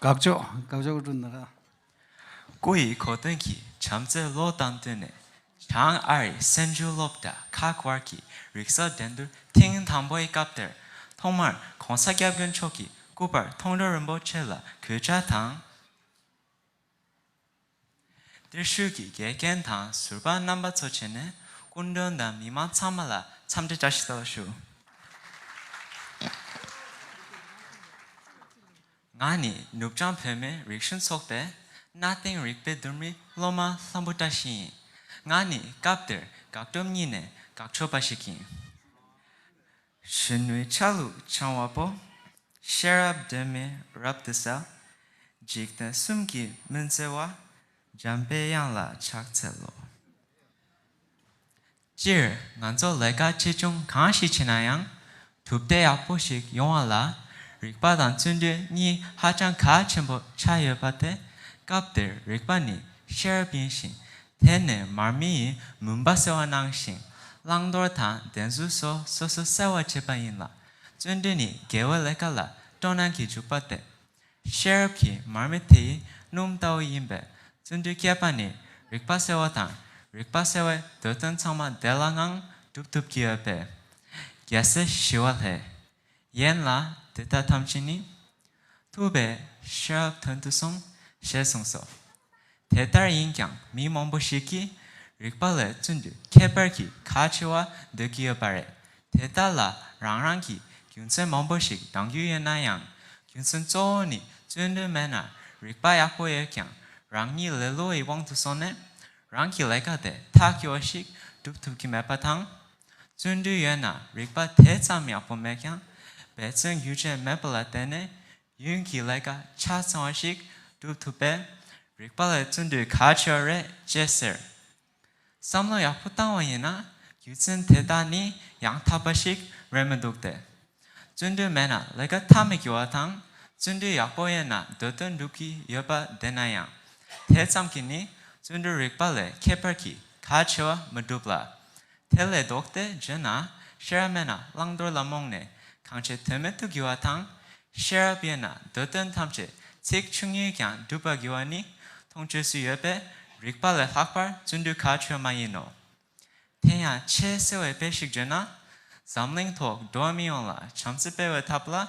དགའ་ཕྱོགས་དགའ་ཕྱོགས་ཀུ་ཀྲུ་ནཱ་ར། སྐུ་ཡི་གོ་སྟོན་གྱི་བྱམས་བརྩེ་བློས་བཏང་བསྟུན་ནས་བྱང་ཨ་རིའི་སེམས་ཤུགས་སློབ་གྲྭ་ཁག་དབར་གྱི་རིག་གསར་འགྲན་བསྡུར་ཐེངས་དང་པོའི་སྐབས་དེར་ཐོག་མར ྋགོང་ས་སྐྱབས་མགོན་མཆོག་གི་སྐུ་པར་མཐོང་རོལ་རིན་པོ་ཆེ་ལ་གུས་ཕྱག་དང། གཏེར་ཤུལ་གྱི་དགེ་རྒན་དང་ཟུར་པ་རྣམ་པ་ཚོ་བྱས་ནས་སྐུ་མགྲོན་དང་མི་མང་ཚང་མ་ལ་འཚམས་འདྲི་བཀྲ་ཤིས་རྟོགས་བརྗོད་ཞུ། ང་ནི་ནུབ་བྱང་བོད་མིའི་རིག་གཞུང་ཚོགས་པའི་གནའ་དེང་རིག་པའི་བསྡུར་མི་སློབ་མ་ལྷམ་བུ་བཀྲ་ཤིས་ཡིན། ང་ནི་སྐབས་དེར་དགག་སྒྲུབ་གཉིས་ནས་དགག་ཆོག་པ་ཞིག་ཡིན། གཞོན་ནུའི་ཆ་ལུགས་འཆང་བ་པོ། ཤེས་རབ་སྒྲོན་མེ་རབ་ཏུ་གསལ། འཇིག་རྟེན་གསུམ་གྱི་མུན་སེལ་བ། འཇམ་དཔལ་དབྱངས་ལ་ཕྱག་འཚལ་ལོ། སྤྱིར་ང་ཚོ་ལས་ཀ་ཆེ་ཆུང་གང་ཞིག་བྱེད་ན་ཡང་གྲུབ་འབྲས་ཡག་པོ་ཞིག་ཡོང་བ་ལ་རིག་པ་དང་བརྩོན་འགྲུས་གཉིས་ཧ་ཅང་གལ་ཆེན་པོ་ཆགས་ཡོད་པ་དེ་སྐབས་དེར་རིག་པ་ནི་ཤེས་རབ་ཡིན་ཞིང་དེ་ནས་མར་མེ་ཡིས་མུན་པ་སེལ་བ་གནང་ཞིང་བླང་དོར་དང་བདེན་རྫུན་སོགས་སོ་སོ་གསལ་བར་བྱེད་པ་ཡིན་ལ། བརྩོན་འགྲུས་ནི་དགེ་བའི་ལས་ཀ་ལ་སྤྲོ་སྣང་གིས་འཇུག་པ་སྟེ། ཤེས་རབ་ཀྱི་མར་མེ་དེ་ཡིས་སྣུམ་ལྟ་བུ་ཡིན་པས་བརྩོན་འགྲུས་བསྐྱེད་པ་ནི་རིག་པ་གསལ་བ་དང་རིག་པ་གསལ་བས་འདོད་དོན་ཚང་མ་བདེ་བླག་ངང་སྒྲུབ་ཐུབ་ཀྱི་ཡོད་པས། རྒྱལ་སྲས་ཞི་བ་ལྷས་ཡན་ལག་དེ་དག་ཐམས་ཅད་ནི། ཐུབ་པའི་ཤེལ་དོན་དུ་གསུངས་ཞེས་གསུངས་སོ། དེ་ལྟར་ཡིན་ཀྱང་མི་མང་པོ་ཞིག་གིས་རིགས་པ་ལས་བཙུན་དུ་ཁྱད་པར་གྱི་ཁ་ཆེ་བ་འདོད་ཀྱི་ཡོད་པ་རེད། དེ་དག་ལ་རང་རང་གི་རྒྱུ་མཚན་མང་པོ་ཞིག་གདང་རྒྱུ་ཡོད་ན་ཡང། རྒྱུ་མཚན་གཙོ་བོ་ནི་བརྩོན་འགྲུས་མེད་ན་རིགས་པ་ཡག་པོ་ཡོད་ཀྱང་རང་ཉིད་ལེ་ལོ་ཡི་དབང་དུ་སོང་ནས་རང་གི་ལས་ཀ་དེ་ཐག་གི་བ་ཞིག་སྒྲུབ་ཐུབ་ཀྱི་མེད་པ་དང། བརྩོན་འགྲུས་ཡོད་ན་རིག་པ་དེ་ཙམ་ཡག་པོ་མེད་ཀྱང་འབད་བརྩོན་ཡུལ་ཆད་མེད་པ་ལ་བརྟེན་ནས་ཡུན་གྱི་ལས་ཀ་ཆ་ཚང་བ་ཞིག་སྒྲུབ་ཐུབ་པས་རིག་པ་ལ་བརྩོན་འགྲུས་གལ་ཆེ་བ་རེད་ཅེས་ཟེར། བསམ་བློ་ཡག་པོ་བཏང་བ་ཡིན་ན་རྒྱུ་མཚན་དེ་དག་ནི་ཡང་དག་པ་ཞིག་རེད་མི་འདུག་སྟེ། བརྩོན་འགྲུས་མེད་ན་ལས་ཀ་ཐག་མི་འཁྱོལ་བ་དང། བརྩོན་འགྲུས་ཡག་པོ་ཡོད་ན་འདོད་དོན་འགྲུབ་ཀྱི་ཡོད་པ་བདེན་ན་ཡང། དེ་ཙམ་གྱིས་ནི་བརྩོན་འགྲུས་རིག་པ་ལས་ཁྱད་པར་གྱི་ག་ཆེ་བ་མི་འགྲུབ་ལ། དེ་ལས་ལྡོག་སྟེ་བརྗོད་ན་ཤེས་རབ་མེད་ན་བླང་དོར་ལ་རྨོངས་ནས་གང་བྱས་དོན་མེད་དུ་འགྱུར་བ་དང། ཤེས་རབ་ཡོད་ན་འདོད་དོན་ཐམས་ཅད་ཚེགས་ཆུང་ངུས་ཀྱང་འགྲུབ་པར་འགྱུར་བ་ནི་མཐོང་ཆོས་སུ་ཡོད་པས་རིག་པ་ལས་ལྷག་པར་བརྩོན་འགྲུས་ག་ཆོད་མ་ཡིན་ནོ། དེ་ཡང་ཆེས་གསལ་བའི་དཔེ་ཞིག་བརྗོད་ན། འཛམ་གླིང་ཐོག་འགྲོ་བ་མི་ཡོངས་ལ་བྱམས་བརྩེ་སྤེལ་བའི་ཐབས་ལ།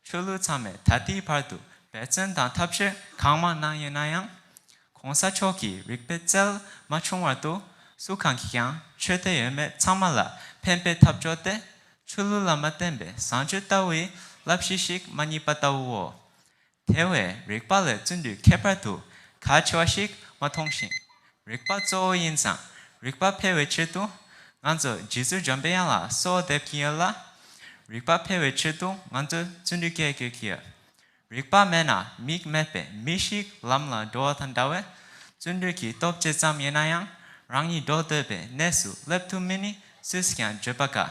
ཆོས་ལུགས་ཚང་མས་ད་ལྟའི་བར་དུ་འབད་བརྩོན་དང་ཐབས་ཤེས་གང་མང་གནང་ཡོད་ན་ཡང། གོང་ས་མཆོག་གི་རིག་པའི་རྩལ་མ་བྱུང་བར་དུ་སུ་གང་གིས་ཀྱང་ཆོས་དད་ཡོད་མེད་ཚང་མ་ལ་ཕན་པའི་ཐབས་སྦྱོར་ཏེ། ཆོས་ལུགས་ལ་མ་བརྟེན་པའི་བཟང་སྤྱོད་ལྟ་བུའི་བསླབ་གཞི་ཞིག་མ་རྙེད་པ་ལྟ་བུའོ། དེ་བས་རིག་པ་ལས་བརྩོན་འགྲུས་ཁྱད་པར་དུ་གལ་ཆེ་བ་ཞིག་མ་མཐོང་ཞིང། རིག་པ་གཙོ་བོ་ཡིན་ཙང་རིག་པ་འཕེལ་བའི་ཆེད་དུ། ང་ཚོ་རྗེ་བཙུན་འཇམ་དཔལ་དབྱངས་ལ་གསོལ་བ་འདེབས་ཀྱིན་ཡོད་ལ། རིག་པ་འཕེལ་བའི་ཆེད་དུ་ང་ཚོས་བརྩོན་འགྲུས་སྐྱེད་དགོས་ཀྱི་ཡོད། རིག་པ་མེད་ན་མིག་མེད་པའི་མི་ཞིག་ལམ་ལ་འགྲོ་བ་དང་འདྲ་བས། བརྩོན་འགྲུས་ཀྱི་སྟོབས་ཇི་ཙམ་ཡིན་ན་ཡང་རང་ཉིད་འགྲོ་འདོད་པའི་གནས་སུ་སླེབས་ཐུབ་མིན་ནི་སུས་ཀྱང་བརྗོད་པ་དཀའ།